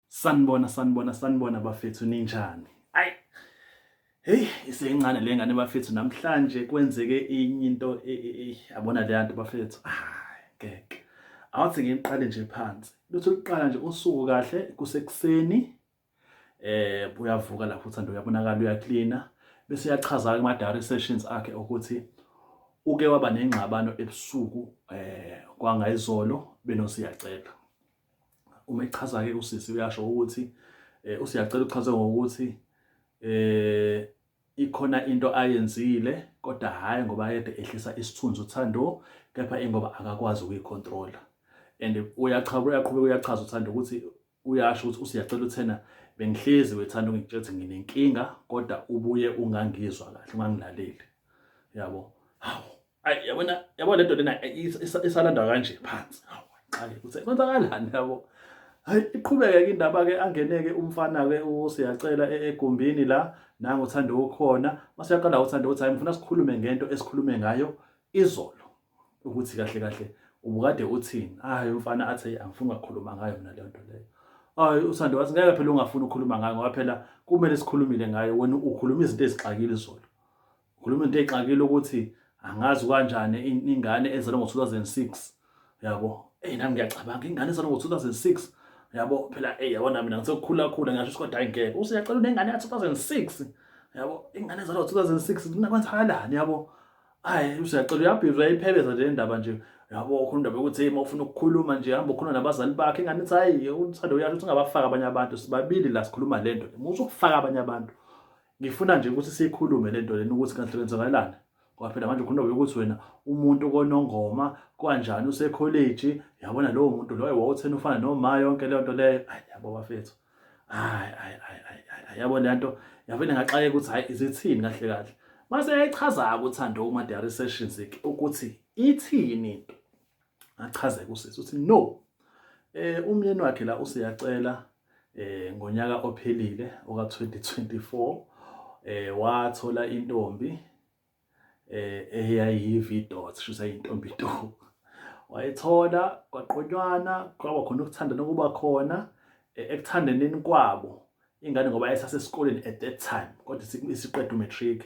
Sanibona sanibona sanibona bafethu ninjani? Ayi. Hey, iseyincane le ngane bafethu namhlanje kwenzeke inye into e, e, e, yabona le nto bafethu. Hayi, ngeke. Awuthi ngiqale nje phansi. Lutho liqala nje usuku kahle kusekuseni. Eh, uyavuka lapho uthanda uyabonakala uyaklina bese uyachaza kuma diary sessions akhe ukuthi uke waba nengxabano ebusuku eh kwangayizolo benosiyacelwa. uma echaza ke usisi uyasho ukuthi eh, usiyacela uchaze ngokuthi eh ikhona into ayenzile kodwa hhayi ngoba ayede ehlisa isithunzi uthando kepha ingoba akakwazi ukuyicontrola and uyachaba uyaqhubeka uyachaza uthando ukuthi uyasho ukuthi usiyacela uthena bengihlezi wethanda ungitshela ukuthi nginenkinga kodwa ubuye ungangizwa kahle ungangilaleli yabo hawu ayi yabona yabo le nto lena isalanda kanje phansi qale ukuthi kwenzakalani yabo hayi iqhubeke ke indaba ke angeneke umfana ke usiyacela e-, egumbini la nangu uthanda ukhona masiyaqala uthanda ukuthi hayi ngifuna sikhulume ngento esikhulume ngayo izolo ukuthi kahle kahle ubukade uthini hayi umfana athi angifuni ukukhuluma ngayo mina le nto leyo hayi uthanda wathi ngeke phela ungafuni ukukhuluma ngayo ngoba phela kumele sikhulumile ngayo wena ukhuluma izinto ezixakile izolo Ukhuluma into exakile ukuthi angazi kanjani ingane ezalwe ngo-2006 yabo eyi nami ngiyacabanga ingane ezalwe ngo-2006 yabo phela eyi yabo nami nangisekukhulakhula ngisho ukuthi kodwa hayi ngeke usuyacela unengane ka-2006 yabo ingane ezalwe ngo-2006 kunakwenzakalani yabo hayi usuyacela uyabhizwa yayiphebeza nje indaba nje yabo ukhuluma indaba yokuthi hey mawufuna ukukhuluma nje hamba ukhuluma nabazali bakhe ingane ithi hayi uthando uyasho ukuthi ungabafaka abanye abantu sibabili la sikhuluma le nto musa ukufaka abanye abantu ngifuna nje ukuthi siyikhulume le nto lena ukuthi kahle kwenzakalani ngoba phela manje ukhuluma ukuthi wena umuntu konongoma kwanjani usekholeji yabona lowo muntu loyo wawuthena ufana noma yonke leyo nto leyo ayi yabo bafethu hayi hayi hayi yabo le nto yavele ngaxakeka ukuthi hayi izithini kahle kahle mase yayichaza-ke uthando uma-diary sessions-ke ukuthi ithini into achaze kusisi uthi no eh umyeni wakhe la useyacela eh ngonyaka ophelile oka 2024 eh wathola intombi eh eyayivi dot shusa intombi to wayithola kwaqonywana kwaba khona ukuthanda nokuba khona eh, ekuthandeneni kwabo ingane ngoba ayesasesikoleni at that time kodwa isiqeda umatric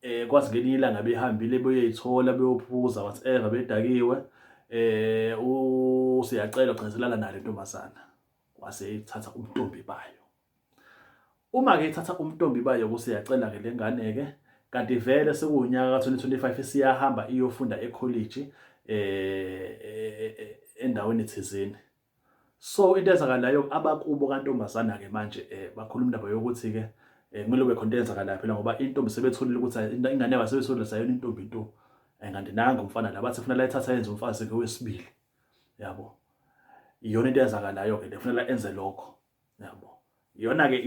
eh kwazi ngelinye ilanga behambile beyoyithola beyophuza whatever bedakiwe eh usiyacela ugcizelana nale ntombazana wase ithatha umntombi bayo uma ke ithatha umntombi bayo kusiyacela ke lengane ke kanti vele sekuwunyaka ka2025 isiyahamba iyofunda ecollege eh, eh, eh endaweni thizeni So into ezakalayo abakubo kantombazana ke manje eh bakhuluma indaba yokuthi ke eh, kumele kube khona eyenzakalayo phela ngoba intombi sebetholile ukuthi ingane yabo sebetholile sayona intombi into eh, kanti nangu umfana la bathi kufanele ayithatha yenze umfazi ke wesibili yabo iyona into eyenzakalayo ke le kufanele enze lokho yabo yona ke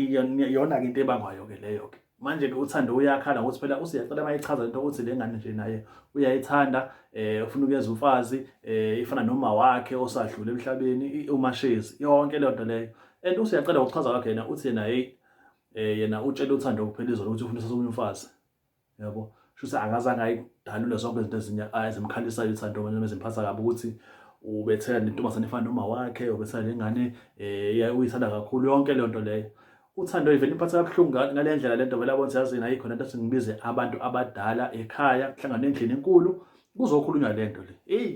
yona ke into ebangwayo ke leyo ke manje ke uthando uyakhala ngokuthi phela usiyacela mayichaza into ukuthi le ngane nje naye uyayithanda eh ufuna ukuyeza umfazi eh ifana noma wakhe osadlule emhlabeni umashezi yonke leyo nto leyo and usiyacela ngokuchaza kwakhe yena uthi yena hey eh yena utshela uthando kuphela izolo ukuthi ufuna ukusasa umfazi yabo kusho ukuthi akazange ayidalule zonke izinto ezinye ah, ezimkhalisayo uthando noma ezimphatha kabi ukuthi ubethela nentombazane efana noma wakhe ubethela nengane um uyithanda kakhulu yonke leyo nto leyo uthando ivele imphatha kabuhlungu ngale ndlela le nto vele abona siyazini ayikho nento ukuthi ngibize abantu abadala ekhaya kuhlangane endlini enkulu kuzokhulunywa le nto le eyi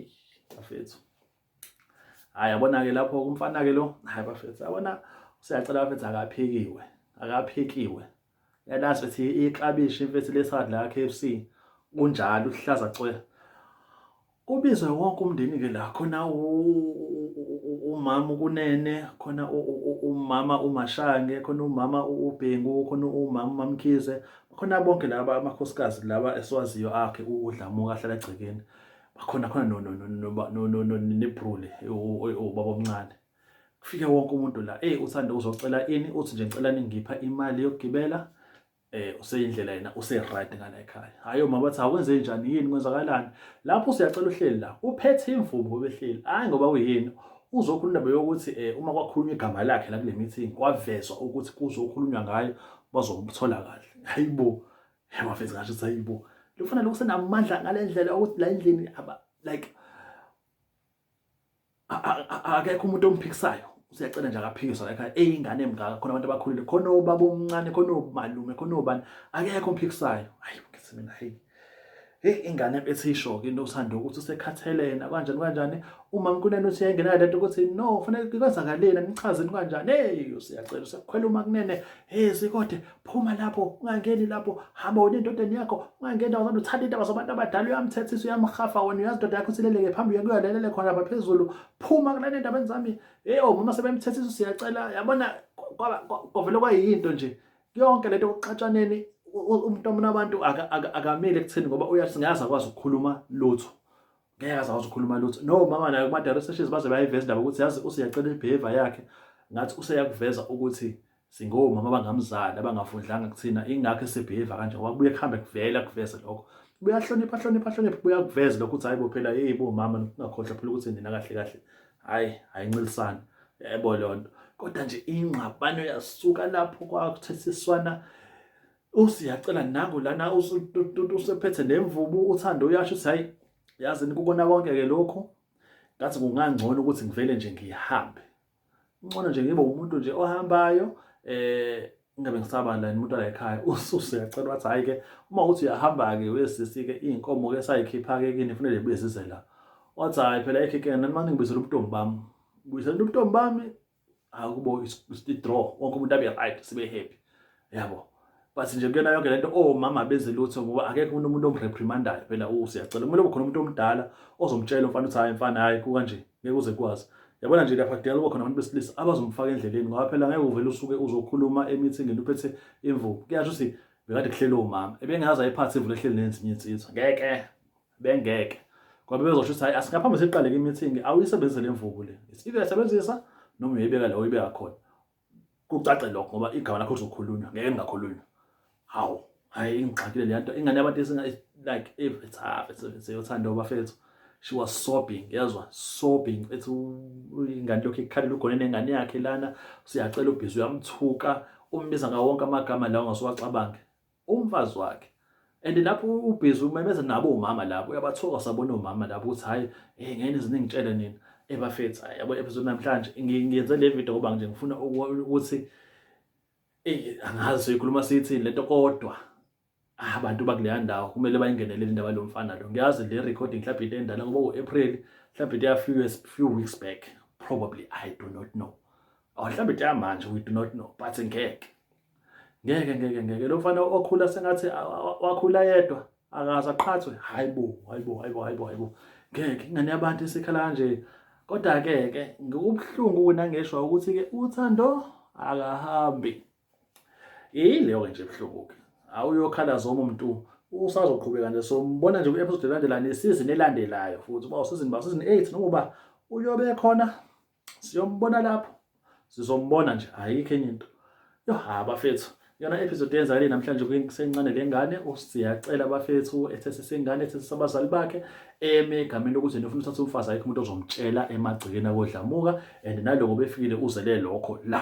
bafethu hayi yabona-ke lapho umfana-ke lo hayi bafethu yabona useyacela bafethu akaphikiwe akaphikiwe yalazi ukuthi iklabishi imfethu lesadi la k f c kunjalo uhlaza cwe kubizwe wonke umndeni-ke la khona umama ukunene khona umama umashange khona umama ubhengu khona umama umamkhize khona bonke laba amakhosikazi laba esiwaziyo akhe udlamuka ahlala egcekeni bakhona khona no no no no no no no nebrule ubaba omncane kufike wonke umuntu la eh uthanda uzocela ini uthi nje ngicela ningipha imali yokugibela eh useyindlela yena use right ngala ekhaya hayi uma bathi awenze njani yini kwenzakalani lapho usiyacela uhleli la uphethe imvubu obehleli hayi ngoba uyini uzokhuluma indaba yokuthi eh uma kwakhulunywa igama lakhe la kule meeting kwavezwa ukuthi kuzokhulunywa ngayo bazomthola kahle hayibo Wafethu ngasho ukuthi hayibo lofana lokhu senamandla ngale ndlela ukuthi la endlini aba like akekho umuntu omphikisayo usiyacela nje akaphikiswa la ekhaya eyingane emngaka khona abantu abakhulile khona obaba omncane khona omalume khona obani akekho omphikisayo hayi ngithi mina hey Hey ingane esishoke into usanda ukuthi usekhathelena kanjani kanjani uma mkunene uthi yayingena lento ukuthi no fanele kwenzakaleni nichazeni kanjani hey usiyacela usakhwela uma kunene hey sikode phuma lapho ungangeni lapho hamba wena endodeni yakho ungangena wazana uthanda indaba zabantu abadala uyamthethisa uyamhafa wena uyazi indoda yakho sileleke phambi uyakuyalelele khona lapha phezulu phuma kulana endabeni zami hey oh mama sebemthethisa usiyacela yabona kwavele kwayinto nje yonke lento yokuxatshaneni umuntu omna abantu akamile ekutheni ngoba uyasingazi akwazi ukukhuluma lutho ngeke aze akwazi ukukhuluma lutho no mama nayo kuma direct sessions baze bayiveza indaba ukuthi yazi useyacela ibehavior yakhe ngathi useyakuveza ukuthi singomama abangamzali abangafundlanga kuthina ingakho esebehave kanje ngoba kubuye kuhambe kuvela kuveze lokho buyahlonipha hlonipha hlonipha buyakuveza lokho ukuthi hayibo phela hey bo mama ningakhohlwa phela ukuthi nina kahle kahle hayi ayinxilisani yebo lonto kodwa nje ingxabano yasuka lapho kwakuthethiswana usiyacela nangu lana usephethe nemvubu uthando uyasho ukuthi hayi yazi nikukona konke ke lokho ngathi kungangcono ukuthi ngivele nje ngihambe ngcono nje ngibe umuntu nje ohambayo eh ingabe ngisaba la umuntu ala ekhaya ususe yacela wathi hayi ke uma uthi uyahamba ke wesisi ke izinkomo ke sayikhipha ke kini kufanele buye size la wathi hayi phela ekhekene nani manje ngibizela ubuntombi bami ngibizela ubuntombi bami akubo i-draw wonke umuntu abe right sibe happy yabo but nje kuyona yonke lento omama benze lutho ngoba akekho umuntu umuntu omreprimandayo phela usiyacela kumele kube khona umuntu omdala ozomtshela umfana ukuthi hayi mfana hayi kukanje ngeke uze kwazi yabona nje lapha kudala kuba khona abantu besilisa abazomfaka endleleni ngoba phela ngeke uvele usuke uzokhuluma emithingini uphethe imvubu kuyasho ukuthi bekade kuhlele umama ebengazi ayiphathe imvula ehleli nezinye insizwa ngeke bengeke ngoba bezosho ukuthi hayi asingaphambi siqaleke imithingi awuyisebenzise le mvubu le isike yasebenzisa noma uyibeka la uyibeka khona kucace lokho ngoba igama lakho lizokhulunywa ngeke lingakhulunywa hawu hayi ingixakile le nto ingane yabantu esinga like if it's half it's seyothanda obafethu she was sobbing yezwa sobbing ethi ingane lokho ikhalela ugone nengane yakhe lana siyacela ubhizi uyamthuka umbiza ngawonke amagama lawo ngasuwacabange umfazi wakhe and lapho ubhizi umemeza nabo umama lapho uyabathoka sabona umama lapho ukuthi hayi eh ngene ziningitshele nina ebafethu hayi yabo episode namhlanje ngiyenze le video ngoba nje ngifuna ukuthi eh angazi ikhuluma sithi lento kodwa ah, abantu bakuleya ndawo kumele bayingenele indaba lomfana lo ngiyazi le recording mhlawumbe into endala ngoba u-april mhlawumbe into ya few years few weeks back probably i do not know or mhlawumbe into yamanje we do not know but ngeke ngeke ngeke ngeke lo mfana okhula sengathi wakhula yedwa akaze aqhathwe hayibo hayibo hayibo hayibo hayibo ngeke ingane yabantu isikhala kanje kodwa ke ke ngikubuhlungu kunangeshwa ukuthi ke uthando akahambi yileyo ke nje buhlungu ke awuyokhala zoma umuntu usazoqhubeka nje sombona nje kwi-episode elandelayo nesizini elandelayo futhi uba usizini ba usizini 8 nokuba uyobe khona siyombona lapho sizombona nje ayikho enye into yo ha bafethu yona episode yenzakale namhlanje kusencane le ngane usiyacela bafethu ethese sengane ethese sabazali bakhe eme egameni lokuthi nifuna uthatha umfazi ayikho umuntu ozomtshela emagcekeni akodlamuka and naloko befikile uzele lokho la